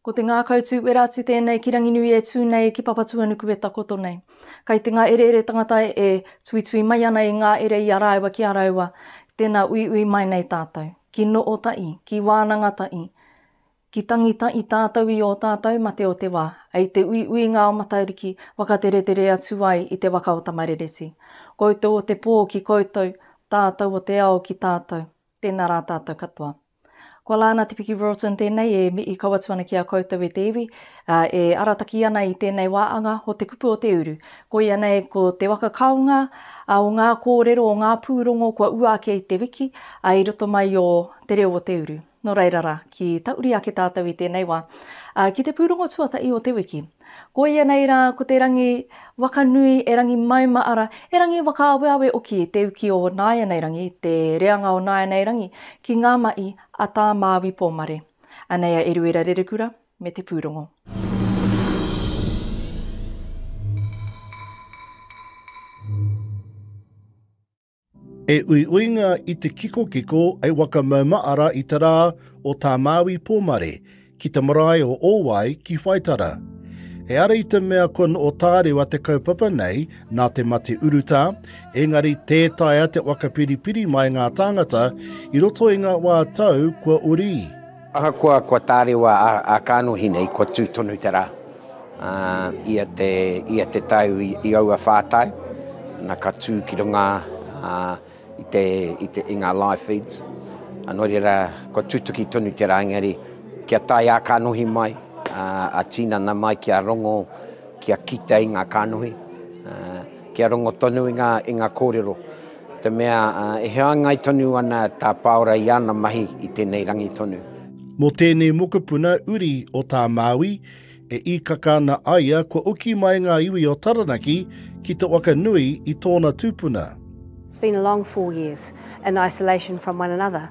Ko te ngākau tū wera atu tēnei ki Ranginui e tū nei ki Papatuanuku e takoto nei. Kai te ngā ereere tangata e tuitui mai ana i ngā ere i a rāua ki a rāua, tēnā uiui mai nei tātou. Ki Nootaʻi, ki Wānangataʻi, Ki tangita i tātou i ō tātou mate o te wā, hei te uiuinga o Matariki whakateretere atu ai i te waka o Tamarereti. Koutou o te pō ki koutou, tātou o te ao ki tātou. Tēnā rā tātou katoa. Ko Lana Te Piki Roulton tēnei e mihi kau atu ana ki a koutou e te iwi, ā, e arataki ana i tēnei wā anga o Te Kupu o Te Uru. Koia nei ko te waka kaonga o ngā kōrero o ngā pūrongo kua ua ake i te wiki, ā, i roto mai i ō Te Reo o Te Uru. Nō reira rā, ki tauri ake tātou i tēnei wā, ā, ki te pūrongo tuatahi o te wiki. Koia nei rā, ko te rangi waka nui, e rangi mauma, arā, e rangi whakaaweawe hoki te uki o nāianei rangi, te reanga o nāianei rangi ki ngā mahi a Tā Māui Pōmare. Anei a Eruera Rerekura me te pūrongo. E uiuinga i te kikokiko e Wakamaumaara i te rā o Tā Māui Pōmare ki te marae o Ōwai ki Whaitara. E ara i te mea kua noo tārewa te kaupapa nei nā te mate urutā, engari tē taea te waka piripiri mai ngā tāngata i roto i ngā wā tau kua uri. Ahakoa kua tārewa a Kānohinei, kua tū tonu te rā. Ia te tau i aua whā tau, na ka tū ki runga i ngā live feeds. Nō reira, kua tutuki tonu te rā, engari kia tae a Kānohi mai, a Tīnana mai kia rongo, kia kite i ngā kānohi, kia rongo tonu i ngā kōrero. Te mea, e hāngai tonu ana tā Pāora i ana mahi i tēnei rangi tonu. Mō tēnei mokopuna uri o tā Māui, e īkaka ana a ia kua oki mai ngā iwi o Taranaki ki te waka nui i tōna tūpuna. It's been a long four years in isolation from one another.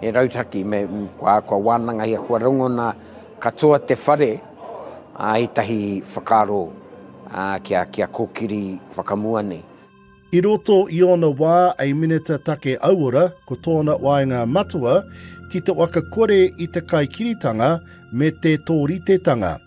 He rautaki me kua, kua wānangahia, kua rongona katoa te whare ā ētahi whakaaro ā kia, kia kōkiri whakamua nei. I roto i ōna wā ei Minita Take Auora, ko tōna waenga matua ki te waka kore i te kaikiritanga me te tōritetanga.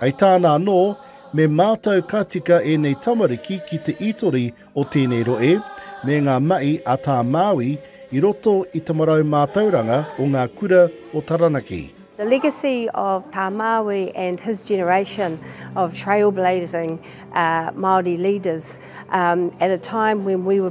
Hei tāna anō, me mātau ka tika ēnei tamariki ki te ītori o tēnei rohe me ngā mahi a tā Māui i roto i te marau mātauranga o ngā kura o Taranaki. The legacy of Tā Māui and his generation of trailblazing Māori leaders at a time when we were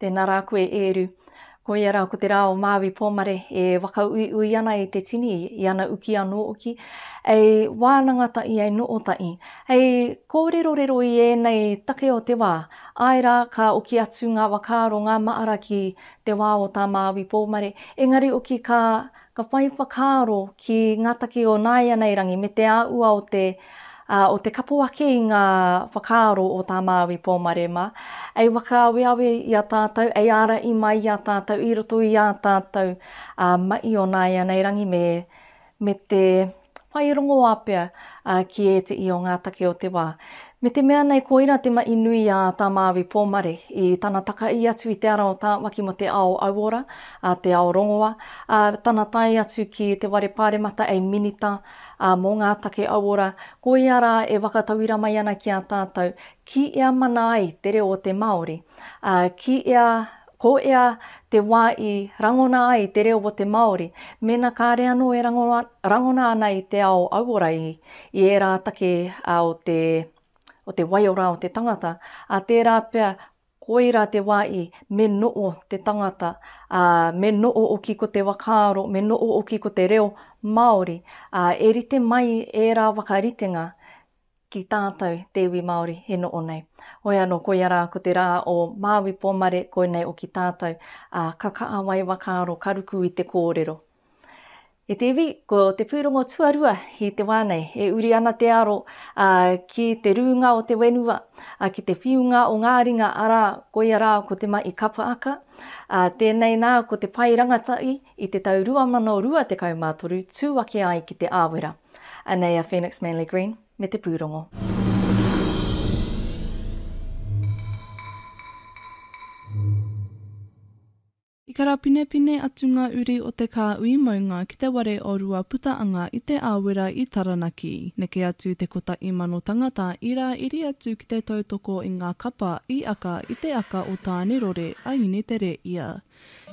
Tēnā rā koe Ēru. Koia rā ko te rā o Māui Pōmare e whakauiui ana i te tini, i ana uki anō hoki, hei wānanga tahi, hei noho tahi, hei kōrerorero i ēnei take o te wā, āe rā, ka oki atu ngā whakaaro, ngā mahara ki te wā o tā Māui Pōmare, engari hoki ka Ka whai whakaaro ki ngā take o nāianei rangi me te āhua o te o te kapo ake i ngā whakaaro o tā Māui Pōmarema, ei whakaaweawe i a tātou, ei ārahi mai i a tātou i roto i ā tātou mahi o nāianei rangi me te. whai rongoā pea ki ēteʻi o ngā take o te wā. Me te mea nei koira te maʻi nui a Tā Māui Pōmare i tana takaī atu i te ara o Tāwaki mō te ao auora, te ao rongoa, ā, tana tae atu ki te ware pāremata hei Minita mō ngā Take Auora, koia rā e whakatauira mai ana ki a tātou, ki ea mana ai te reo o te Māori, ā, ki ea Ko ea te wa i rangona ai te reo o te Maori, mena kare ano e rangona ana i te ao auora i i era take o te o te waiora o te tangata, a tera pea koira te wa i me noo te tangata, a me noo-oki ko te wakaaro, me noo-oki ko te reo Maori, a e rite mai era wakaritenga ki tātou te iwi Māori e noho nei. Hoi anō, koia rā ko te rā o Māui Pōmare koinei o ki tātou, ā, ka kāwai whakaaro, ka ruku i te kōrero. E te iwi, ko te pūrongo tuarua i te wā nei, e uri ana te aro ā, ki te rūnga o te whenua, ā, ki te whiunga o ngā ringa, arā, koia rā ko te mahi kapaaka, ā, tēnei nā ko te pae rangatahi i te tau 2023 tū ake ai ki Te Āwera. Anei a Phoenix Manly Green me te pūrongo. I karapinepine atu ngā uri o te kāui maunga ki te ware o Ruaputaanga i Te Āwera i Taranaki. Neke atu te kota imano tangata i rā iri atu ki te tautoko i ngā kapa i aka i te aka o Tānerore a Inetereia.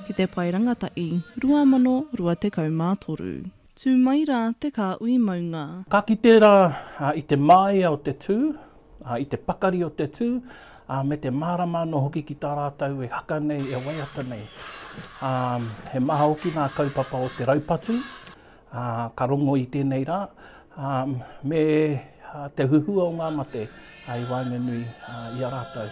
ki te Pae Rangatahi, 2023. Tū mai rā te kāhui maunga. Ka kite rā i te māia o te tū, i te pakari o te tū, ā, me te mārama anō hoki ki tā rātou e haka nei, e waiata nei. Ā, he maha hoki ngā kaupapa o te raupatu, Ā, ka rongo i tēnei rā, ā, me te huhua o ngā mate, ā, i waenganui, ā, i a rātou.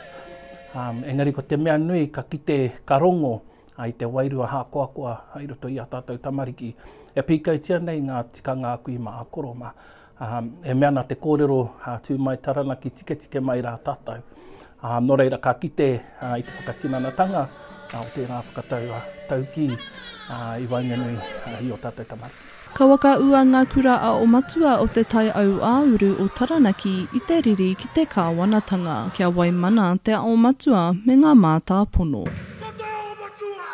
Ā, engari ko te mea nui, ka kite, ka rongo, ā, i te wairua hākoakoa hai roto i ā tātou tamariki, e pīkautia nei ngā tikanga aku i mā a Koroma. Ā, e mea ana te kōrero, ā, tū mai Taranaki, tiketike mai rā tātou. Ā, nō reira ka kite ā, i te whakatinanatanga ā, o tērā whakatau ā, taukī ā, i waenganui ā, i ō tātou tamariki. Ka whakaūa ngā kura a o Matua o Te Tai Aū-ā-uru o Taranaki i te riri ki te kāwanatanga, kia waimana te ao matua me ngā mātāpono. Ko te ao matua!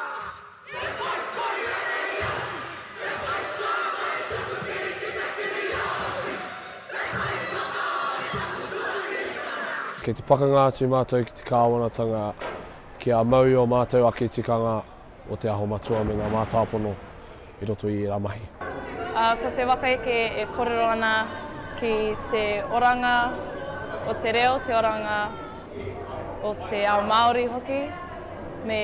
Kei te pakanga atu mātou ki te kāwanatanga kia mau i ō mātou ake tikanga o Te Aho Matua me ngā mātāpono i roto i ērā mahi. Ko te waka eke e kōrero ana ki te oranga o te reo, te oranga. o te ao Māori hoki, me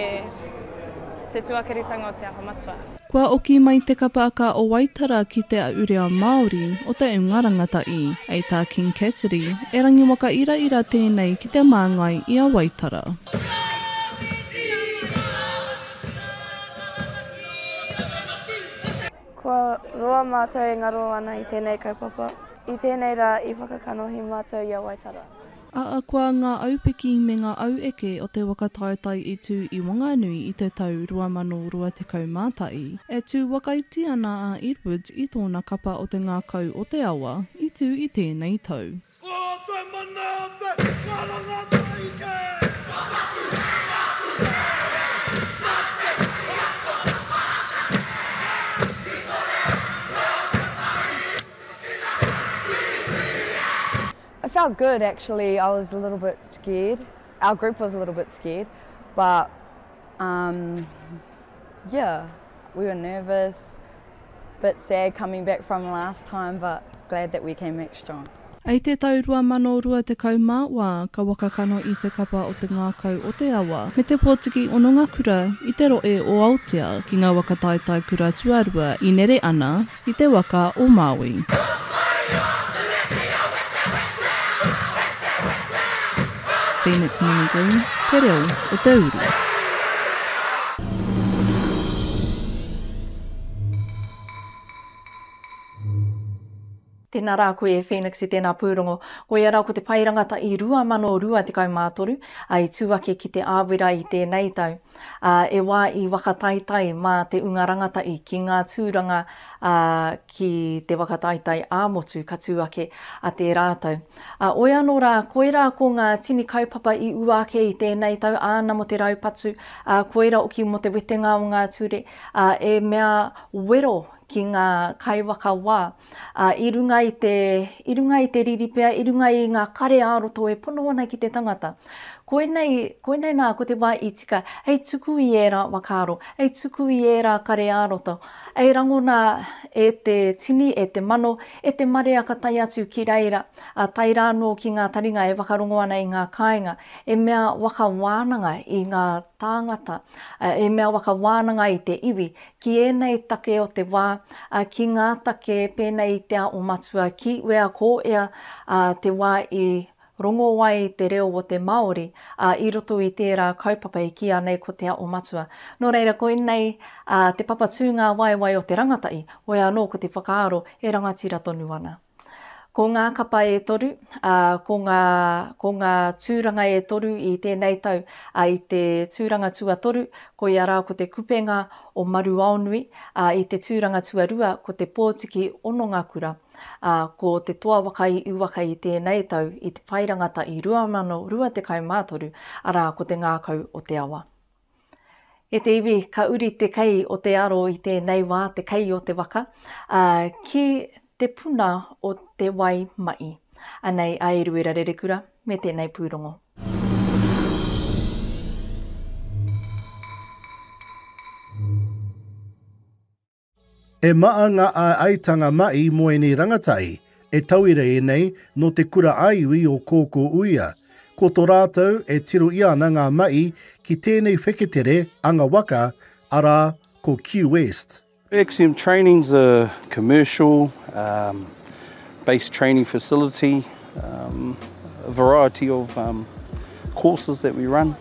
te tuakiritanga o Te Aha Matua. Kua oki mai te kapa a Ka o Waitara ki Te Aʻu Reo Māori o Te Unga Rangatahi, hei tā King Cassidy, e rangiwaka iraira tēnei ki te māngai i a Waitara. Kua roa mātou e ngaro ana i tēnei kaupapa, i tēnei rā i whakakanohi mātou i a Waitara. Ahakoa ngā aupiki me ngā aueke o te waka taetae i tū i Wanganui i te tau 2021, e tū wakaiti ana a Edwards i tōna kapa o te ngākau o te awa i tū i tēnei tau. Ko te mana o te karanga taike. Ka taku hanga aku here. Nā te mahi a tōna whānau e. Ki tō reo, nō te mahi i tukina. Wiriwiri e. I felt good actually, I was a little bit scared, our group was a little bit scared but um yeah we were nervous, bit sad coming back from last time but glad that we came back strong. I te tau 2020 mā wā ka waka kano i te kapa o te ngākau o te awa me te pōtiki hononga kura i te roe o Aotea ki ngā waka taetae kura tuarua i nere ana, I te waka o Maui. Phoenix Muni Green, Te Reo o te Uru. Tēnā rā koe e Phoenix i tēnā pūrongo. Koia rā ko te pae rangata i 2023, ā, i tū ake ki Te Āwera i tēnei tau. ā, e wā i whakataetae mā te unga rangatahi ki ngā tūranga, ā, ki te whakataetae ā-motu ka tū ake a te rātou. Ā, oi anō rā, koirā ko ngā tini kaupapa i ua ake i tēnei tau, āna mō te raupatu, ā, koirā hoki mō te wetenga o ngā ture, ā, e mea wero ki ngā kaiwhakawā. ā, i runga i te, i runga i te riri pea, i runga i ngā kare ā-roto e pono ana ki te tangata. Koinei, koinei nā, ko te wā i tika, hei tuku i ērā whakaaro, hei tuku i ērā kare ā-roto, hei rangona e te tini, e te mano, e te marea ka tae atu ki reira, ā, tae rā anō ki ngā taringa e whakarongo ana i ngā kāinga, e mea waka wānanga i ngā tāngata, ā, e mea waka wānanga i te iwi, ki ēnei take o te wā, ā, ki ngā take pēnei i te ao matua, ki wea ko ea, ā, te wā i rongo ai te reo o te Māori, ā, i roto i tērā kaupapa i kīa nei ko te ao matua. Nō reira, koinei, ā, te papa tūngāwaewae o te rangatahi, wea anō ko te whakaaro e rangatira tonu ana. Ko ngā kapa e toru, ā, ko ngā, ko ngā tūranga e toru i tēnei tau, ā, i te tūranga tuatoru, koia rā ko te kupenga o Maruaonui, ā, i te tūranga tuarua ko te pōtiki Onongakura, ā, ko te toa waka i uwaka i tēnei tau i te pae rangata i 2023, arā, ko te ngākau o te awa. E te iwi, ka uri te kei o te aro i tēnei wā, te kei o te waka, ā, ki te puna o te wai maʻi. Anei a Eruera Rerekura me tēnei pūrongo. E maa nga aeaetanga mai mo enei rangatai e tauira enei no te kura aiui o Koko Uia, ko to ratou e tiro ia ana nga mai ki tenei wheketere anga waka, ara ko Q-West. Axiom Training is a commercial um based training facility um a variety of um courses that we run.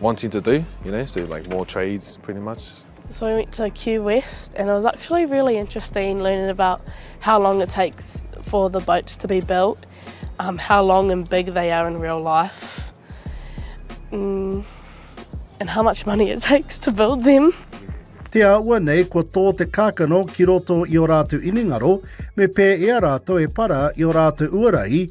wanting to do, you know, so like more trades pretty much. So we went to Q West and it was actually really interesting learning about how long it takes for the boats to be built, um, how long and big they are in real life, mm, and how much money it takes to build them. Te aua nei ko tō te kākano ki roto i o rātou inengaro, me pē e a rātou e para i o rātou uarai,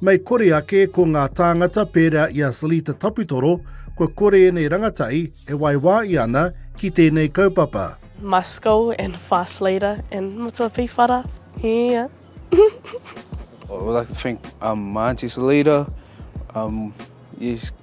Mei kore ake ko ngā tāngata pērā i a Salita Taputoro, kua kore ēnei rangatahi e waiwāia ana ki tēnei kaupapa. My school and fast leader and matua pīwhara, yeah. I would like to thank um, my auntie Salita, um, yes,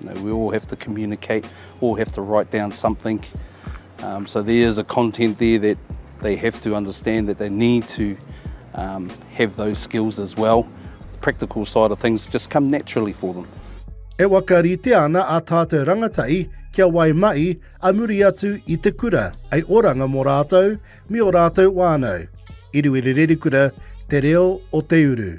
You know, we all have to communicate, all have to write down something. Um, so there is a content there that they have to understand that they need to um, have those skills as well. The practical side of things just come naturally for them. E waka rite ana a tātou rangatai kia wai mai a muri atu i te kura, ai oranga mō rātou, mi o rātou wānau. Iruiri Rerikura, te reo o te uru.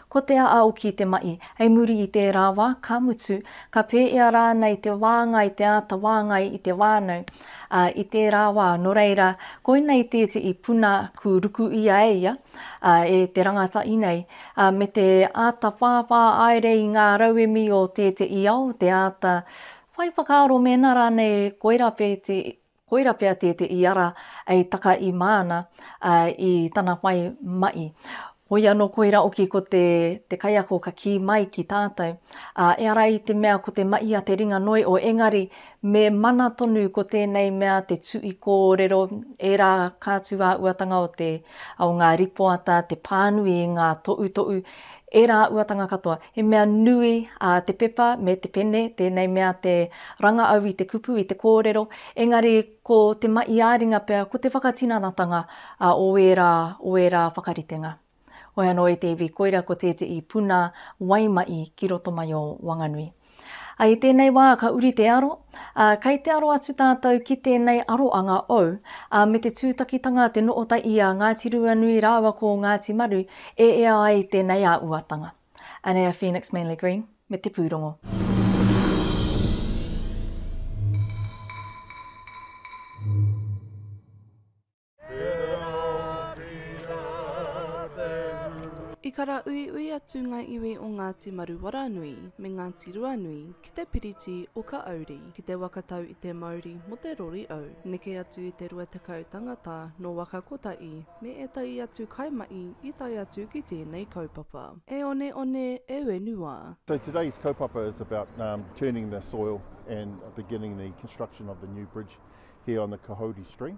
Ko Te Aaoki te mahi. Hei muri i tērā wā, ka mutu, ka pēia rānei te wāngai, te āta wāngai i te whānau, ā, i tērā wā, nō reira, koinei tētehi puna kū ruku ia e ia, ā, e te rangatahi nei, ā, me te āta whāwhā haere i ngā rauemi o tētehi ao, te āta whai whakaaro mēnā rānei koirā pēti Koira pea te te iara ei taka i māna i tana whai maʻi. Hoi anō koira oki ko te te kaiako ka kī mai ki tātou, ā, e ara i te mea ko te maʻi a te ringa noi o engari me mana tonu ko tēnei mea te tuʻi kōrero ērā kātūāuatanga o te o ngā ripoata te pānui i ngā toʻutoʻu Ērā uatanga katoa. He mea nui a te pepa me te pene tēnei mea te ranga au i te kupu, i te kōrero, engari ko te mahi ā-ringa pea ko te whakatinanatanga o ērā, o ērā whakaritenga. Hoi anō e te iwi koira ko tētehi puna waimahi ki roto mai o Wanganui. Ā, i tēnei wā ka uri te aro, ā, kei te aro atu tātou ki tēnei aroanga ou, ā, me te tūtakitanga te noota i a Ngāti Ruanui rāua ko Ngāti Maru e ea ai tēnei āuatanga. Anea Phoenix Manly Green me te pūrongo. I karauiui atu ngā iwi o Ngāti Maruwaranui me Ngāti Ruanui ki te piriti o Kaauri, ki te waka tau i te mauri mo te rori au. Neke atu i te rua tekau tangata no waka kotahi me etahi atu kaimahi i tae atu ki tēnei kaupapa. E one one, e wenua. So today's kaupapa is about turning the soil and beginning the construction of the new bridge here on the Kahouri stream.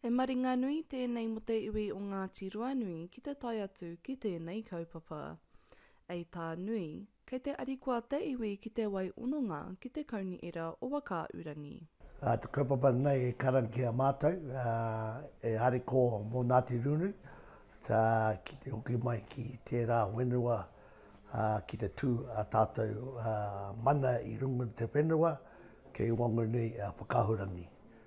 He maringa nui tēnei mō te iwi o Ngāti Ruanui ki te tae atu ki tēnei kaupapa. Ei tā Nui, kei te arikoa te iwi ki te wai ononga ki te kaunihera o Whakaaurangi. Ā, te kaupapa nei e karanga ki a mātou, ā, e ariko mō Nāti Runui, ā, ki te hoki mai ki tērā whenua, ā, ki te tū ā tātou, ā, mana i runga i te whenua, kei Wanganui, ā, Whakaahurangi.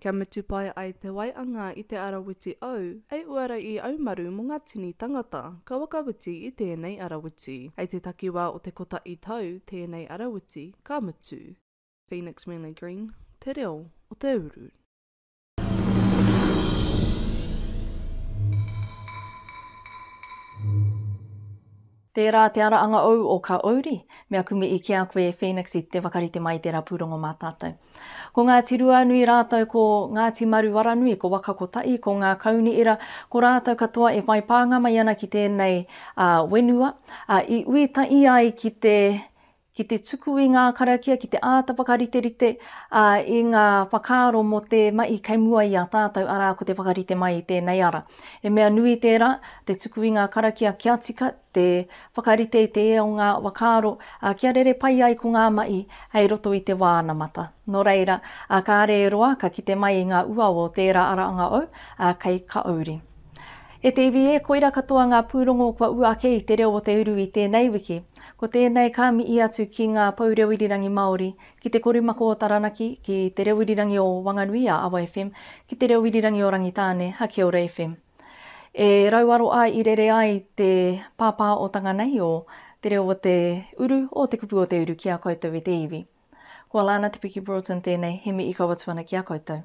Kia mutu pai ai te waianga i te arawiti au, hei uara i au maru mo nga tini tangata, ka whakawiti i tenei arawiti. Hei te takiwa o te kotahi tau tenei arawiti ka mutu. Phoenix Manly Green, Te Reo o te Uru. Tērā te ara anga ou o ka ouri, me aku mihi ki a koe Phoenix i te whakarite mai i tērā pūrongo mā tātou. Ko Ngāti Ruanui rātou ko Ngāti Maruaranui, ko Waka Kotaʻi, ko Ngā Kauniira, ko rātou katoa e whai pānga mai ana ki tēnei whenua, i ui tahi ai ki te ki te tuku i ngā karakia, ki te āta whakariterite i ngā whakaaro mō te mahi kei mua i a tātou, arā, ko te whakarite mai i tēnei ara. He mea nui tērā, te tuku i ngā karakia kia tika, te whakarite i te ea o ngā whakaaro, kia rere pai ai ko ngā mahi hei roto i te wā anamata. Nō reira, kāre e roa ka kite mai i ngā uaua o tērā ara anga ou kei Kaouri. E te iwi e, koira katoa ngā pūrongo kua ū ake i te reo o te uru i tēnei wiki. Ko tēnei ka mihi atu ki ngā pou reo irirangi Māori, ki Te Korumako o Taranaki, ki Te Reo Irirangi o Wanganui a Awa FM, ki Te Reo Irirangi o Rangitāne a Kia Ora FM. E rauaro ai i rere ai te pāpā o tanga nei o Te Reo o te Uru, o Te Kupu o te Uru ki a koutou e te iwi. Ko Alana Te Piki Broughton tēnei, he mihi kau atu ana ki a koutou.